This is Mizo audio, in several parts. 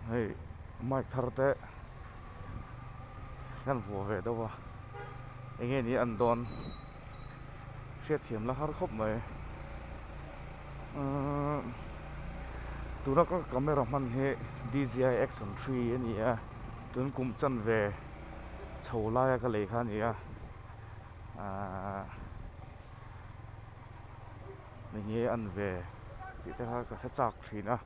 hei mic thar te hian vuah ve deuh a eng nge nih an dawn hriatthiam la har khawp mai umm tuna ka camera hman hi DJI action three a ni a tun kum chanve chho laia ka lei kha a ni a. aah ni ngei a ni ve tih te kha ka hre chak thin a.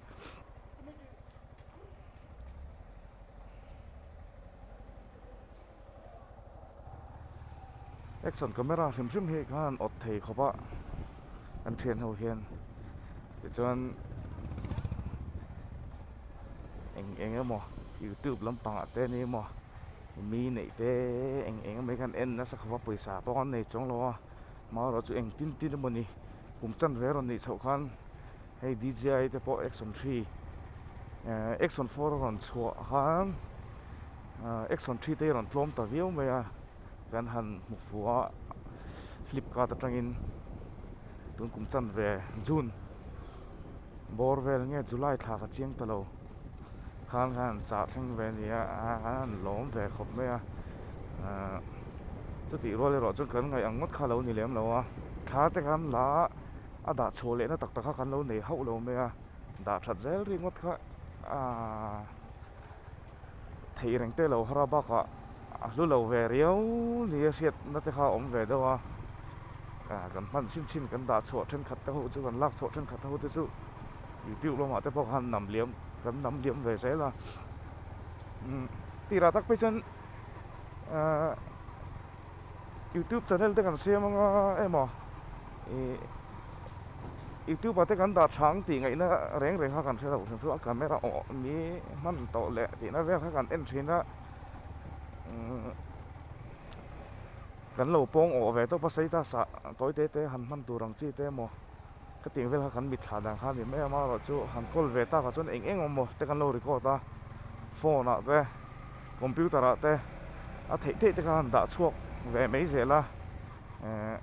Action camera hrim hrim hi khan awt thei khawp a kan thian ho hian tichuan eng eng emaw youtube lampang ah te emaw-- mi neih te eng eng emaw hi khan en nasa khawp a pawisa pawng an nei chuang lo a hma erawh chu eng tin tin emaw ni kum chanve rawn nih chhoh khan hei d j i te pawh action three eh action four a rawn chhuah khan ah action three te hi a rawn tlawm ta viau mai a kan han hmu fu a flipkart atangin tun kum chanve june bawr vel nge july thlak a chiang ta lo. khang hian chah thleng ve ni a an lawm ve khawp mai a ahh chutih rual erawh chuan kan ngaih ang ngawt kha a lo ni lem lo a thla te kan la a a dah chhuah leh na tak tak kha kan lo nei hauh lo mai a dah that zel ri ngawt kha ahh theih reng te lo har a bak ah a hlu lo ve riau ni a hriat na te kha a awm ve deuh a ahh kan hman chin chin kan dah chhuah thenkhat te ho chu kan lak chhuah thenkhat te ho te chu-- youtube lamah te pawh khan hnam liam kan hnam liam ve zel a umm tihlah tak phei chuan ahh youtube channel te kan siam anga emaw ihh youtube ah te kan dah tha ang tih ngaihna reng reng kha kan hre lo hre thung a camera awh ni hman tawh leh tihna vel kha kan en thin a umm kan lo pawng awh ve tawh pasal a tawite te han hman tur ang chi te emaw. ka tih vel kha kan mitthla dan kha ni mai a mah erawh chu han call ve takah chuan eng eng emaw te kan lo record a phone ah te computer ah te a theih theih te kha han dah chhuak ve mai zel a ehh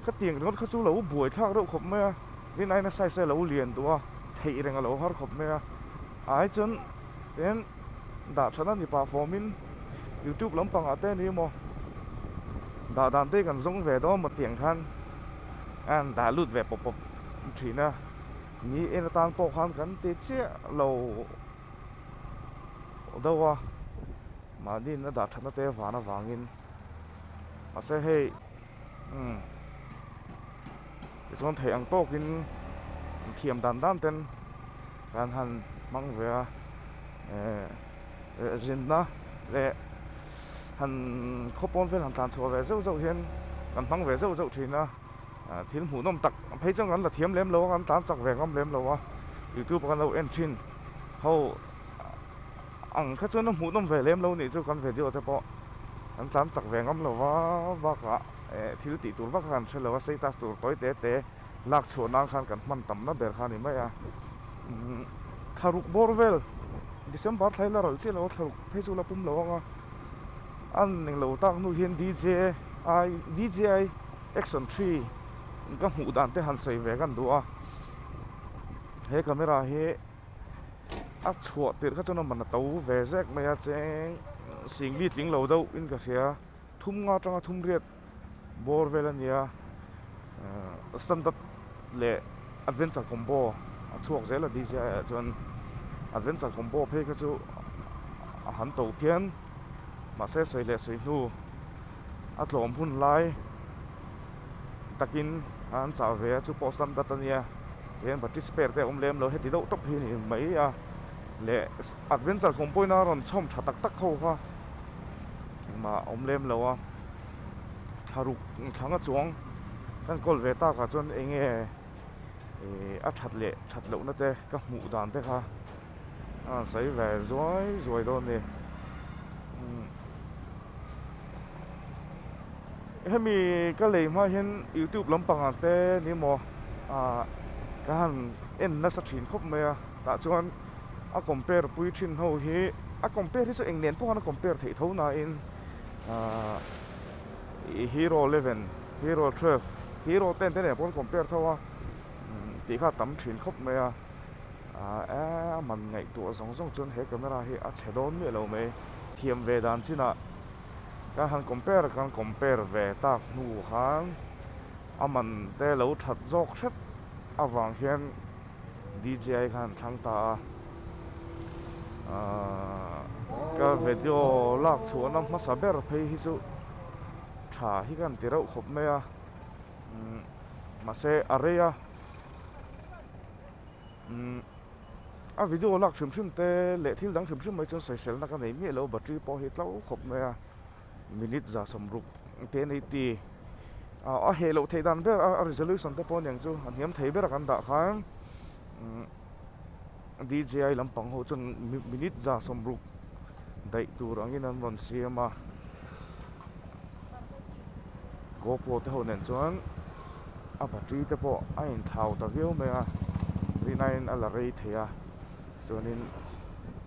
ka ti ang ringawt kha chu lo buai thlak reuh khawp mai a rin aina size a lo lian duh a theih reng a lo har khawp mai a ai chuan Then dah thana ni pah form in youtube lam pang ah te ni maw dah dan te kan zawng ve dawn maw tih ang khan an dah lut ve pawp pawp thin a ni en atan pawh khan kan ti chiah lo deuh a mahni in a dah thana te van avang in mahse hei umm tichuan theih ang tawk in an thiam dan dan ten hian han hmang ve a ehh eh zinna leh han khaw pawn vel han tlan chhuah ve zeuh zeuh hian kan hmang ve zeuh zeuh thin a ah thil hmuh nawm tak a phei chuan kan la thiam lem lo a kan tlan chak ve ngam lem lo a youtube a kan lo en thin ho. Ang kha chuan a hmuhnawm ve lem lo nih chu kan video te pawh kan tlan chak ve ngam lo va, bakah eh thil tih tur vak kha kan hre lo a, status tur tawi te te lak chhuah nan khan kan hman tam na ber kha a ni mai a. Umm thlaruk bawr vel December thlai la ral chiah lo a thlaruk phei chu la pum lo ang a, a ning lo tak hnu hian DJI DJI Action three ka hmuh dan te han sawi ve kan duh a, he camera hi. a chhuah tirh kha chuan a man a to ve zek mai a cheng singbi tling lo deuh in ka hria thum nga tanga thumriat bawr vel a nia ahh standard leh adventure combo a chhuak zel a dji ah chuan adventure combo phei kha chu a han to phian mahse sawi leh sawi hnu-- a tlawm hun lai takin an chah ve a chu pawh sam dat a nia kei an participate te a awm lem lo heti deuh tawp hi a ni mai a leh adventure kawngpui na rawn chhawm tha tak tak ho kha engmah a awm lem lo a thla ruk thlang a chuang kan call ve tak ah chuan enge ihh a that leh that lohna te ka hmuh dan te kha. A sawi ve zuai zuai dawn ni. Hemi ka lei hma hian youtube lampang ang te ni maw ah ka han en nasa thin khawp mai a. Tah chuan a compare pui thin ho hi a compare hi chu eng nen pawh han compare theih tho nain ah i hero eleven, hero twelve, hero ten te nen pawh an compare tho a. Tihkha a tam thin khawp mai a. Aah eeh a man ngaihtuah zawng zawng chuan he camera hi a chhe dawn miah lo mai. Thiam ve dan chinah kan han compare kan compare ve tak hnu khan a man te lo that zawk hret avang hian DJI khan an thlang ta a. Aah ka vedio lak chhuahna hmasa ber phei hi chu tha hi ka han ti reuh khawp mai a. Umm mahse a rei a. a video lak hrim hrim te leh thil dang hrim hrim mai chuan saisel na ka nei miah lo battery pawh hi tlo khawp mai a minute za sawm ruk te an eighty a heh loh theih dan ber a resolution te pawh aniang chu a hniam thei ber a kan dah khan DJI lampang ho chuan minute za sawm ruk daih tur angin an rawn siam a. GoPro te ho nen chuan a battery te pawh a in thlau ta viau mai a rina in a la rei thei a chuanin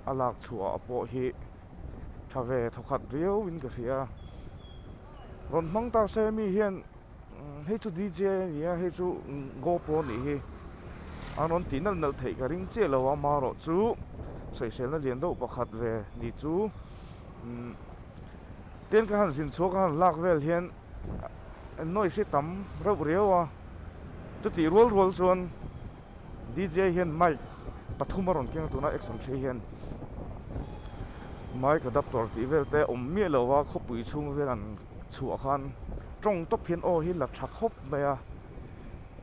a lak chhuah ah pawh hi tha ve thaw khat riau in ka hria rawn hmang ta se mi hian hei chu DJ a ni a hei chu GoPro a nih hi an rawn tih nalh nalh theih ka ring chiah lo a marawh chu sawisel na lian deuh pakhat ve ni chu umm. Tin ka han zin chhuak a han lak vel hian noise hi tam reuh riau a, chutih rual rual chuan DJ hian mic pathum a rawn keng a tuna Exon Three hian mic adaptor tih vel te awm miah lo a khawpui chhung vel an chhuah khan tawng tawp hian aw hi la tha khawp mai a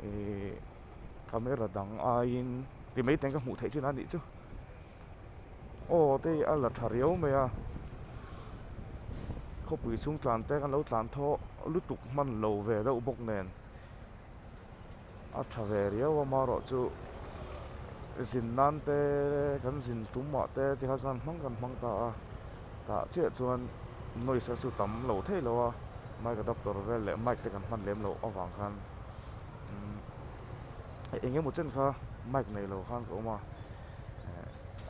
ihh camera dang aiin ti mai teng ka hmuh theih chin a nih chu. aw te hi a la tha riau mai a khawpui chhung tlan te kan lo tlan thaw lutuk hman lo ve deuh bawk nen a tha ve riau a amarawh chu zin nan te kan zin tum ah te te kha chuan hmang kan hmang ta a tah chiah chuan noise a chu tam lo thei lo a mic adaptor vel leh mic te kan hman lem loh avang khan umm eng emaw chen kha mic nei lo khan ka awm a.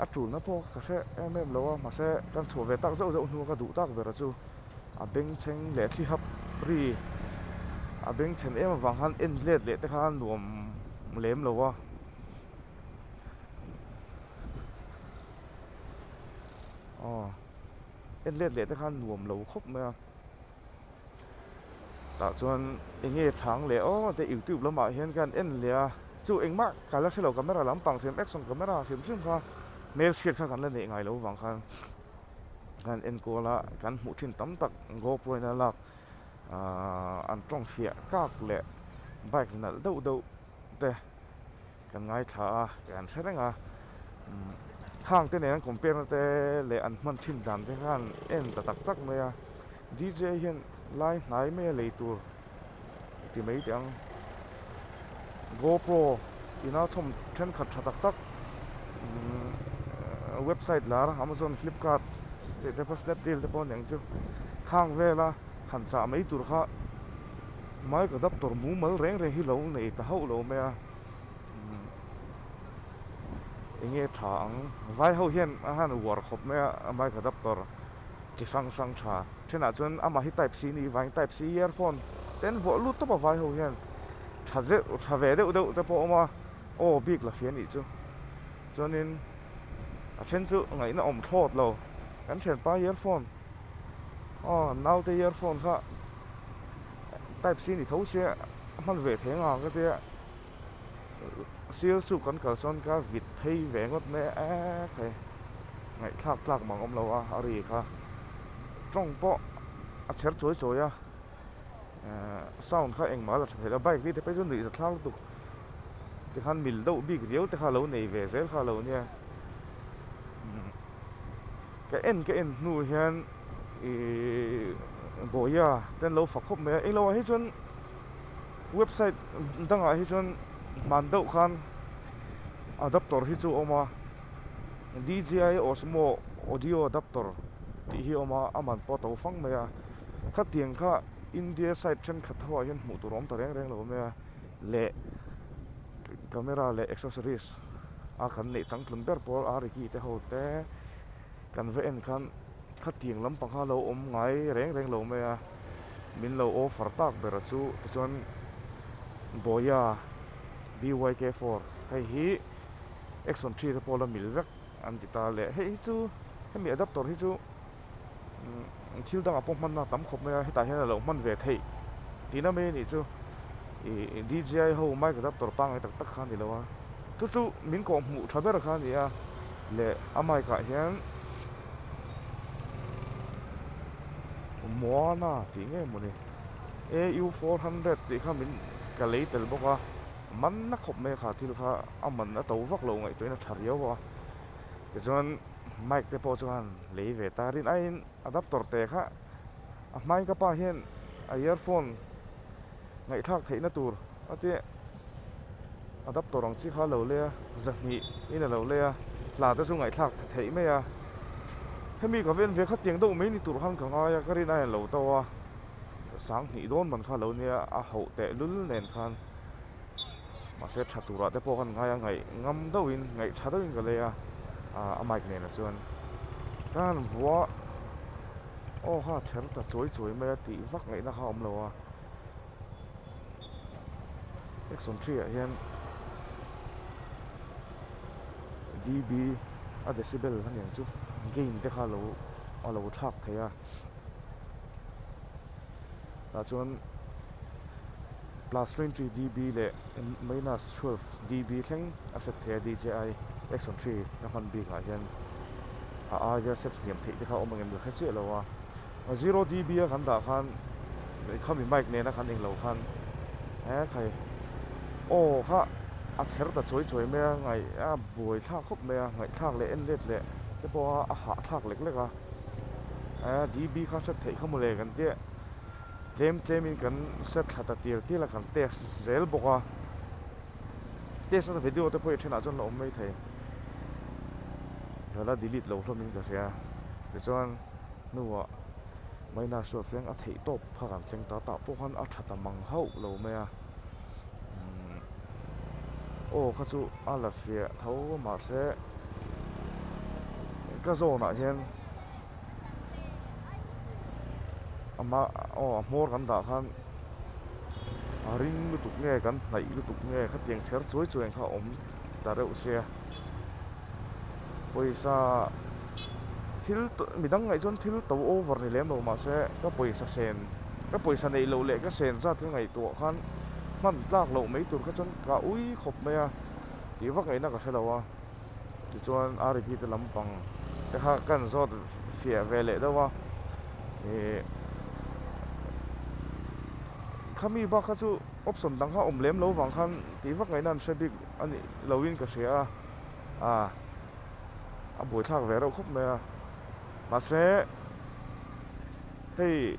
a tul na pawh ka hreh em em lo a mahse kan chhuah ve tak zeuh zeuh hnu a ka duh tak bera chu a bengchheng leh a thlihap ri a bengchhen em avang khan en let leh te khan nuam lem lo a. Tah chuan enge thang leh aw te youtube lamah hian khian en leh a chu engmah ka la hrelo camera lampang hrem action camera ah hrem hrem kha hmel chhiat kha kan la neih ngai lo vang khan kan en kual a kan hmuh thin tam tak go pro in a lak aah an tawng hriah kak leh bike nalh deuh deuh. te kan ngaithla a kan en tha reng a khang te nen an compare na te leh an hman thin dan te khan en ta tak tak mai a d j hian lai hnai mai a lei tur ti mai teh ang go pro ina chhawm thenkhat tha tak tak umm website lar amazon flipkart tih te pawh snapdeal te pawh a ni ang chu khang vela han chah mai tur kha-- Mai ka doctor mumal reng reng hi lo nei ta hauh lo mai a, umm enge tha ang vai ho hian a han uar khawp mai a mai ka doctor chi hrang hrang tha thenah chuan ama hi type c ni vang in type c earphone ten vuah lut tawp a vai ho hian tha zeuh tha ve deuh deuh te pawh a awm a aw bik la hria nih chu chuanin a then chu ngaihna awm thlawt lo kan thianpa earphone. Aw naute earphone kha type c ni tho se a hman ve thei anga ka tia sales u kan kal sawn ka vit phei ve ngawt mai a eee phei ngaihthlak tlak mang awm lo a a ri kha tawng pawh a chher chawi chawi a eee sound kha engmah la tha theih lo a bike hi te pawh hi chu nuih za thlak lutuk tikhan mil deuh bik riau te kha lo nei ve zel kha lo nia umm. Ka en ka en hnu hian ih bawia te an lo fak khawp mai a, eng lohah hi chuan website dangah hi chuan hman deuh khan adaptor hi chu a awm a, DJI Osmo Audio Adaptor tih hi a awm a, a man pawh a to fang mai a, khatiang kha India side thenkhat ho ah hian hmuh tur a awm ta reng reng lo mai a, leh camera leh accessories. a kan neih chang tlun ber pawh a riki te ho te kan va en khan khatiang lampang kha lo awm ngai reng reng lo mai a min lo offer tak ber a chu tichuan boya byk four hei hi axon three te pawh la mil vek an ti ta a leh hei hi chu hemi adaptor hi chu-- umm thil dangah pawh hmanna tam khawp mai a hetah hian a lo hman ve theih tih na mai a nih chu ihh D J I ho mic adaptor pangngai tak tak kha a ni lo a chu chu min kawh hmuh tha ber kha a ni a leh a mic ah hian moana tih nge maw ni A U four hundred tih kha min ka lei tel bawk a manna khawp mai kha thil kha a man a to vak lo ngaihtuahin a tha riau a tichuan-- mic te pawh chuan lei ve tarin aiin adapter teh kha a hmai ka pa hian a earphone ngaihthlak theihna tur a ti a adapter ang chi kha a lo lei a zahnih in a lo lei a hla te chu ngaihthlak theih mai a hemi ka ven ve kha tiang deuh mai ni tur khan ka ngai a ka rin aia lo tawh a sanghnih dawn man kha a lo nia a hauh tehlul nen khan. mahse tha turah te pawh ka han ngai a ngaih ngam deuh in ngaih tha deuh in ka lei a a mic nen ah chuan tan vua aw ha chher ta chuai chuai mai a tih vak ngaih na kha a awm lo a exon three ah hian DB a decibel a nen chu gain te kha a lo a lo thlak thei a. tah chuan plus twenty DB leh minus twelve DB thleng a set theih a DJI Action three ka hman bik ah hian a aia set hniam theih te kha awm angem ka hre chiah lo a a zero DB a kan dah khan khami mic nen a kan eng lo khan he khai aw kha a chher ta chawi chawi mai a ngaih a buai thlak khawp mai a ngaih thlak leh en let leh te pawh a a hah thlak lek lek a. Aa DB kha set theih kha mawle kan tia tlem tlem in kan set thla ta tir tir a kan test zel bawk a test a video te pawh i then ah chuan la awm mai thei hala delete lo hlawm in ka hria tichuan hnuah Maina Hruaifiang a theih tawp kha kan thleng ta tah pawh khan a tha ta mang hauh lo mai a. aw kha chu a la fiah tho mahse ka zawn ah hian ama aw a hmawr kan dah khan a ring lutuk nge kan hnaih lutuk nge khatiang chher chuai chuai ang kha a awm ta reuh se a. pawisa thil tawh mi dang ngaih chuan thil tawh over ni lem lo mah se ka pawisa sen ka pawisa nei loh leh ka sen zat hi ngaih tuah khan hman tlak loh mai tur kha chuan ka ui khawp mai a tih vak ngaihna ka hre lo a tichuan a ri phite lampang te kha ka han zawt fiah ve leh deuh a ihh khami bakah chu option dang kha awm lem lo vang khan tih vak ngaihna an hre bik. Anih lohin ka hria a, ah a buaithlak ve reuh khawp mai a, mahse hei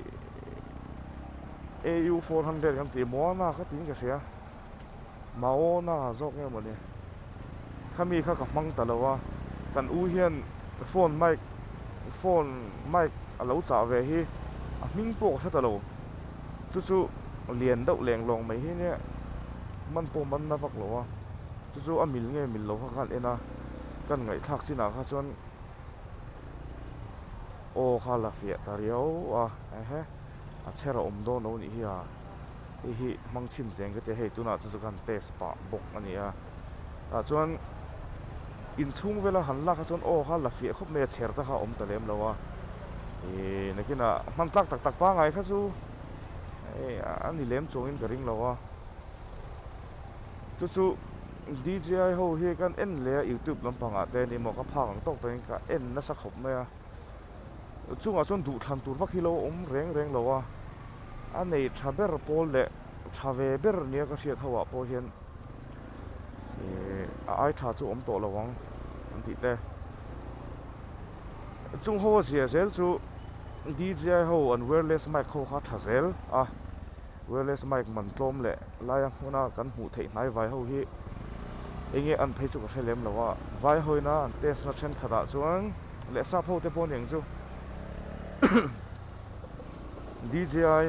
AU four hundred kan tih muana kha tiin ka hria, Maona zawk nge mawni, khami kha ka hmang ta lo a, kan u hian phone mic phone mic a lo chah ve hi a hming pawh ka hre ta lo. chu chu lian deuh lenglawng mai hi nia man pawh man na vak lo a chu chu a mil nge mil lo kha khan en a kan ngaihthlak chin ah kha chuan aw kha la fiah ta riau a ehe a chher a awm dawn lo nih hi a hei hi hmang chhin teng ka ti a hei tunah chu chu kan test pah bawk a ni a. tah chuan in chhung vela han lak a chuan aw kha la fiah khawp mai a chher ta kha awm ta lem lo a ihh nakinah hman tlak tak tak pangai kha chu eh a ni lem chuang in ka ring lo a chu chu dji ho hi ka en leh a youtube lampang ah te ni maw ka phak ang tawk ta in ka en nasa khawp mai a a chungah chuan duh thlan tur vak hi lo awm reng reng lo a a nei tha ber pawl leh tha ve ber nia ka hriat ho ah pawh hian. ihh a ai tha chu awm tawh lo ang an tih te chung ho a ziah zel chu D J I ho an wireless mic ho kha tha zel a wireless mic man tlawm leh lai a hmuna kan hmuh theih hnai vai ho hi eng nge an phei chu ka hre lem lo a vai ho ina an test na thenkhat ah chuan leh sap ho te pawh a ni ang chu D J I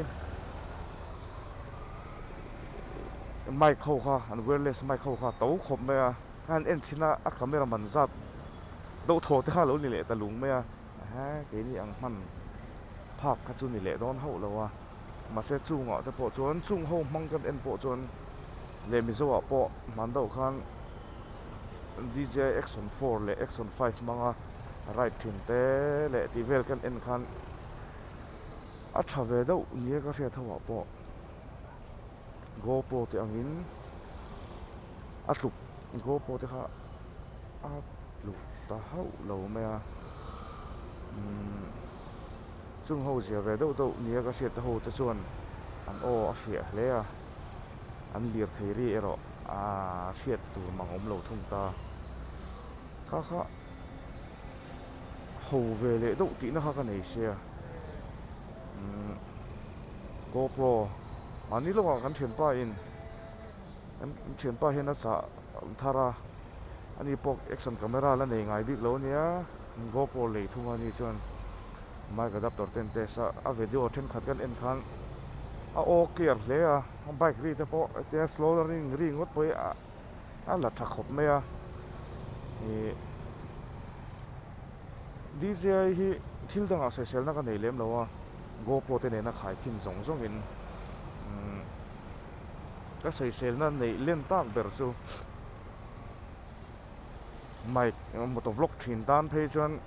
mic ho kha an wireless mic ho kha to khawp mai a khan en chhin a a camera man zat doh thaw te kha lo ni leh ta lung mai a ehe keini ang hman phak kha chu ni leh dawn hauh lo a mahse chungah te pawh chuan chung ho hmang kan en pawh chuan leh mizo ah pawh hman deuh khan D J I action four leh action five hmang a right thin te leh tih vel kan en khan a tha ve deuh nia ka hriat ho ah pawh. GoPro te angin a tluk GoPro te kha a tluk ta hauh lo mai a umm chung ho zia ve deuh deuh nia ka hriat te ho te chuan an aw a hriah hle a an lirtheiri erawh aa hriat tur mang awm lo thung ta kha kha. ho ve leh deuh tihna kha ka nei se a umm GoPro mahni lohah kan thianpa in kan thianpa hian a chah thar a ani pawh action camera la nei ngai bik lo nia GoPro lei thung a ni chuan mic adaptor te an test a a video thenkhat kan en khan a aw clear hle a bike ri te pawh tia slow ring ringawt pawhin a. a la tha khawp mai a ih DJ hi thil dangah sehselna ka nei lem lo a GoPro te nena khai khin zawng zawng in umm ka sehselna neih len tak ber chu mic moto vlog thin tan phei chuan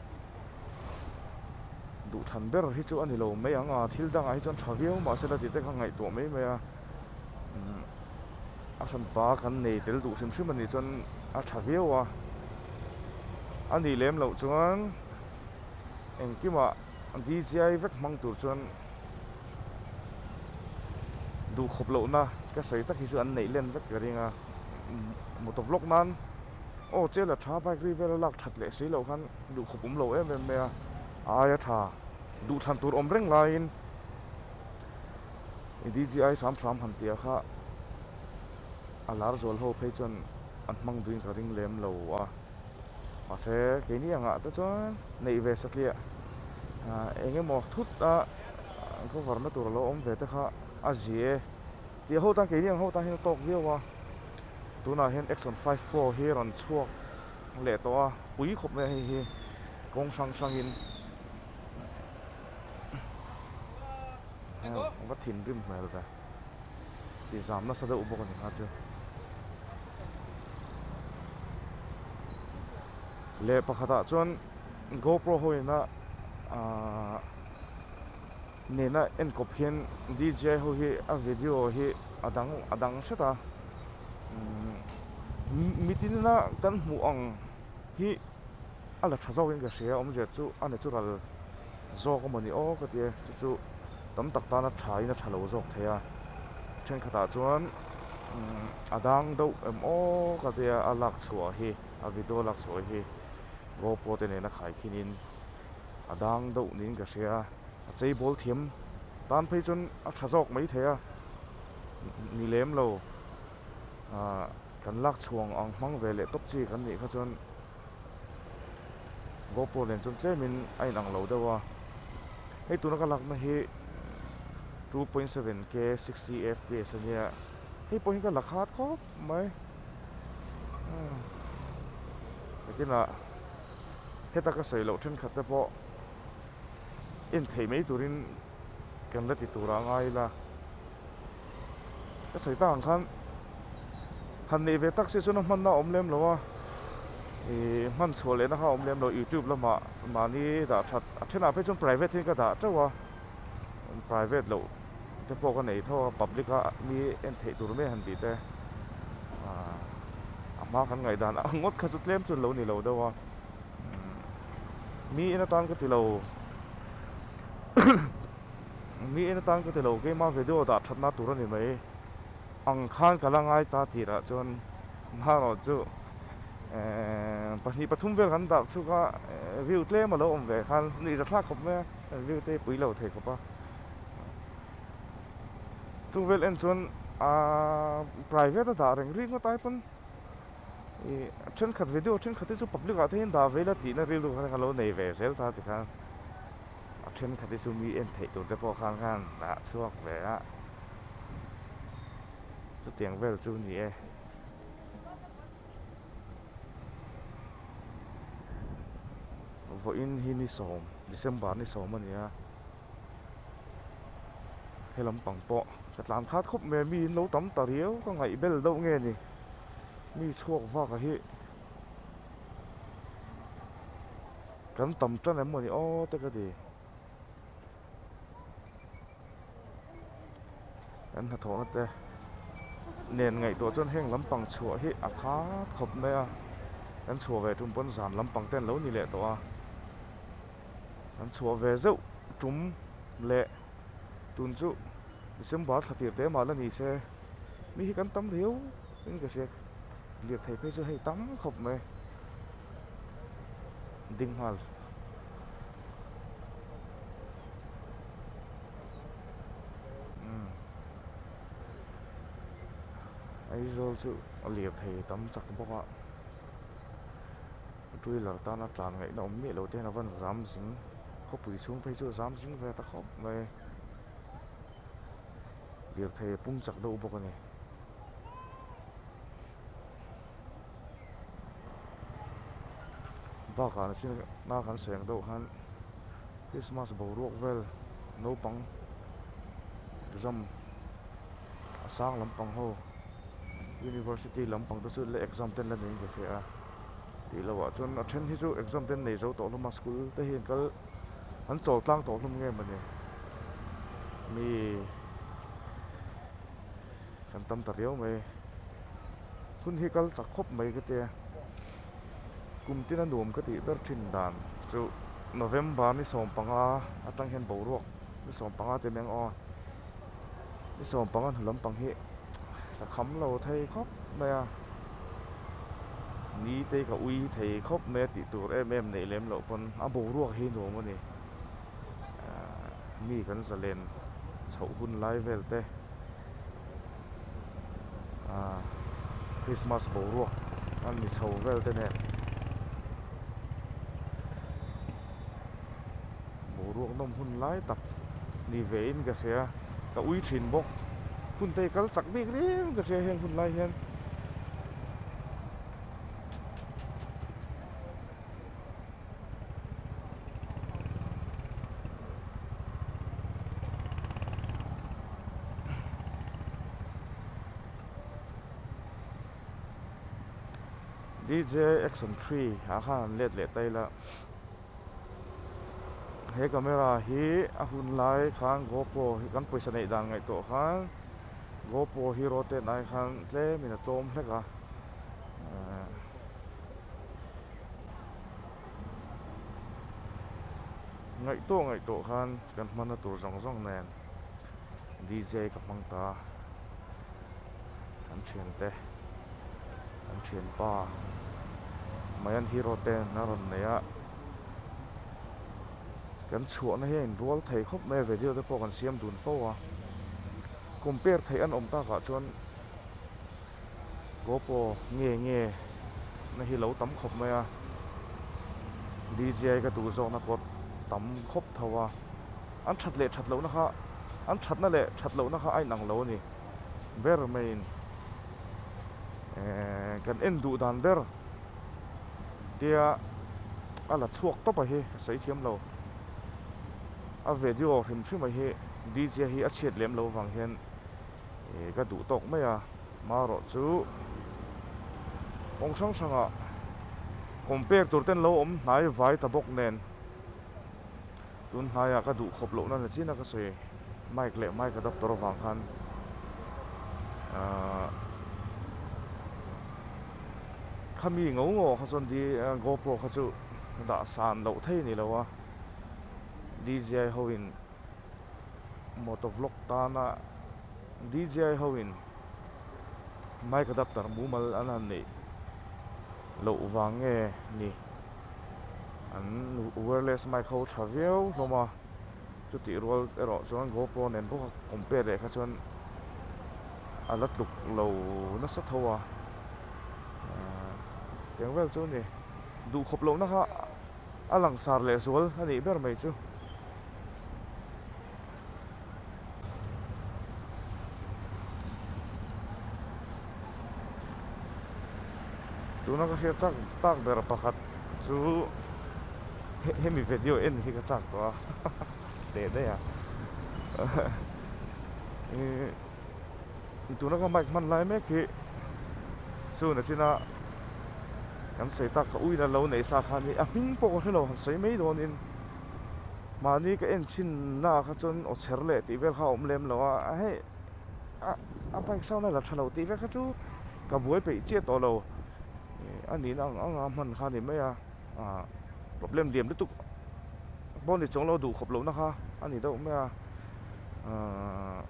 duh than ber hi chu a ni lo mai ang a thil dangah hi chuan tha viau mah se la tih te kha ngaihtuah mai mai a. a hran pa kan nei tel duh hrim hrim a nih chuan a tha viau a a nih lem loh chuan engkim ah dijai vek hmang tur chuan duh khawp loh na ka sawi tak hi chu an neih len vek ka ring a mu ta vlawk nan aw chel a tha bike ri vel a lak that leh si loh khan duh khawp awm lo em em mai a aia tha duh than tur awm reng lai in. I DG ai hram hram han tia kha a lar zual ho phei chuan an hmang duin ka ring lem lo a. Mahse keini angah te chuan neih ve satliah eng emaw thut a cover na tur a lo awm ve te kha a zia e. Tih a ho tan keini ang ho tanin a tawk viau a. Tunah hian Exxon five pro hi rawn chhuak leh tawh a, pui khawp mai a hei hi kawng hrang hrangin. va thin rim hmel ve tih zam nasa deuh bawk a ni kha chu leh pakhatah chuan GoPro ho ina ah nena enkawp hian DJ ho hi a video hi a dang a dang hret a umm mitin ina kan hmuh ang hi-- a la tha zawkin ka hria awm zia chu a ni chu ral zawk a maw ni aw ka ti a chu chu tam tak tana thain a tha lo zawk thei a thenkhatah chuan umm a dang deuh em aw ka ti a a lak chhuah hi a video lak chhuah hi GoPro te nena khai khinin a dang deuh niin ka hria a cheibawl thiam tan phei chuan a tha zawk mai thei a ni lem lo ahh kan lak chhuah ang hmang ve leh tawp chi kan nih kha chuan. Gopur nen chuan tlemin a in ang lo deuh a, hei tuna ka lakna hi two point seven k sixty fps a nia hei pawhin ka la khat khawp mai biakinah heta ka sawi loh thenkhat te pawh en thei mai turin kan la ti tur ah a ngai ila. ka sawi ta ang khan han neih ve tak si chuan a hman na awm lem lo a ihh hman chhuah leh na kha a awm lem lo youtube lama mahni dah that a then ah phei chuan private hi ka dah teuh a private loh te pawh ka nei tho a public a mi en theih tur mai han tih te a hma kan ngaih dan ang ngawt kha chu tlem chu lo ni lo deuh a mi en atan ka ti lo. Ni en atan ka ti lo, keimah video dah that na tur a ni mai. Ang khan ka la ngai ta tirah chuan hna erawh chu emm pahnih pathum vel kan dah chuk a, view tlem a lo awm ve khan ni za thlak khawp mai a, view te hi pui lo thei khawp a. Chung vel en chuan aaa private a dah reng rih ngawt ai pawn i thenkhat video thenkhat te chu public ah te hian dah ve ila tihna rilru kha reng a lo nei ve zel ta ti khan. a thenkhat te chu mi en theih tur te pawh khan khan a chhuak ve a chutiang vel chu ni e. vawiin hi ni sawm December ni sawm a ni a he lampang pawh ka tlan khat khawp mai a mi in lo tam ta riau ka ngaih bel deuh nge ni mi chhuak vakah hi. kan tam tan em mawni aw te ka ti kan hnathawhna te nen ngaihtuah chuan heng lampang chhuah hi a khat khawp mai a kan chhuah ve tum pawn zan lampang te an lo ni leh tawh a kan chhuah ve zeuh tum leh tun chu december thla tir te mah la ni se mi hi kan tam reuh. Eng ka hriat liat thei phei chu hei tam khawp mai ding nghal. Umm Aizawl chu a liat thei tam chak bawk a, Trailer tan a tlan ngaihna awm miah lo te hian a van zam zing khawpui chhung phei chu a zam zing ve ta khawp mai. Lirthei a pung chak deuh bawk a ni. bakah an sin na kan seng deuh khan christmas boruak vel naupang exam a sang lampang ho university lampang te chu exam ten la nei ve thei a tih lo ah chuan a then hi chu exam te an nei zo tawh hlawm a school te hian kal an chawl tlang tawh hlawm nge mawni mi-- kan tam ta riau mai hun hi kal chak khawp mai ka tia kum tina nuam ka tih ber thin dan chu november ni sawm panga atang hian boruak ni sawm panga te mai ang aw ni sawm panga hnu lampang hi ka kham lo thei khawp mai a ni te ka ui thei khawp mai a tih tur em em nei lem loh pawn a boruak hi nuam a ni. ahh mi kan zalen chhoh hun lai vel te ahh krismas boruak an ni chho vel te nen boruak nawm hun lai tak ni ve in ka hria ka ui thin bawk hun te hi kal chak bik reng ka hria heng hun lai hian ahh. DJ action three ah khan an let leh tail a he camera hi a hun lai khan GoPro hi kan pawisa neih dan ngaih tawh khan GoPro hi rotate ai khan tlem in a tlawm hlek a ehh. ngaih tawh ngaih tawh khan kan hmana tur zawng zawng nen DJ ka hmang ta a an thiante an thianpa mai an hero ten a rawn nei a kan chhuahna hi a inrual thei khawp mai a video te pawh kan siam dun fo a compare theih an awm takah chuan. Gopo nge nge na hi lo tam khawp mai a, DJI ka duh zawkna pawh tam khawp tho a, an that leh that lohna kha an thatna leh that lohna kha a inang lo a ni ber maiin eeh kan en duh dan ber tia a la chhuak tawpa hi ka sawi thiam lo a video hrim hrima hi DJI hi a chhiat lem lo vang hian. Ehh ka duh tawk mai a, marawh chu kawng hrang hrang ah compare tur ten lo awm hnai vai ta bawk nen tun hnai ah ka duh khawp loh na ni chin a ka sawi. Mic leh mic adaptor avang khan ahh khami ngo ngo kha chuan di GoPro kha chu dah san loh thei ni lo a DJI ho in. motor vlog tana dji ho in mic adapter mumal an han neih loh vang nge ni an wireless mic ho tha viau hlawm a chutih rual erawh chuan GoPro a nen bawk a compare leh kha chuan a la tluk lo nasa tho a ah tiang vel chu a ni duhkhawp lohna kha a langsar leh sual a nih ber mai chu. tuna ka hriat chak tak ber pakhat chu hemi video en hi ka chak tawh a teh daih a ih tuna ka mic hman lai mek hi chhun a chin a kan sawi tak ka uiin a lo nei sa khan hi a hming pawh ka hrelo han sawi mai dawn in. mahni ka en chhinna kha chuan aw chher leh tih vel kha a awm lem lo a a hei a a bike sound a la tha lo tih vel kha chu ka buai peih chiah tawh lo ih a nihna ang anga hman kha a ni mai a ah problem diam lutuk bonnet chu anglo duh khawp lohna kha a ni deuh mai a ah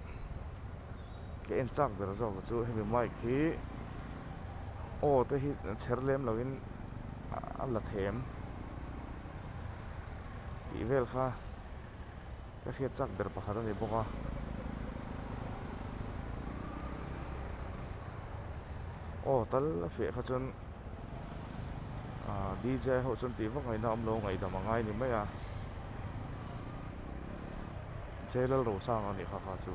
ka en chak ber zawk ah chu hemi mic hi aw te hi chher lem lo in a la them. tih vel kha ka hriat chak ber pakhat a ni bawk a aw tal a fiah kha chuan D J ho chuan tih vak ngaihna awm lo ngaihdam a ngai ni mai a J Lalrosang a nih kha kha chu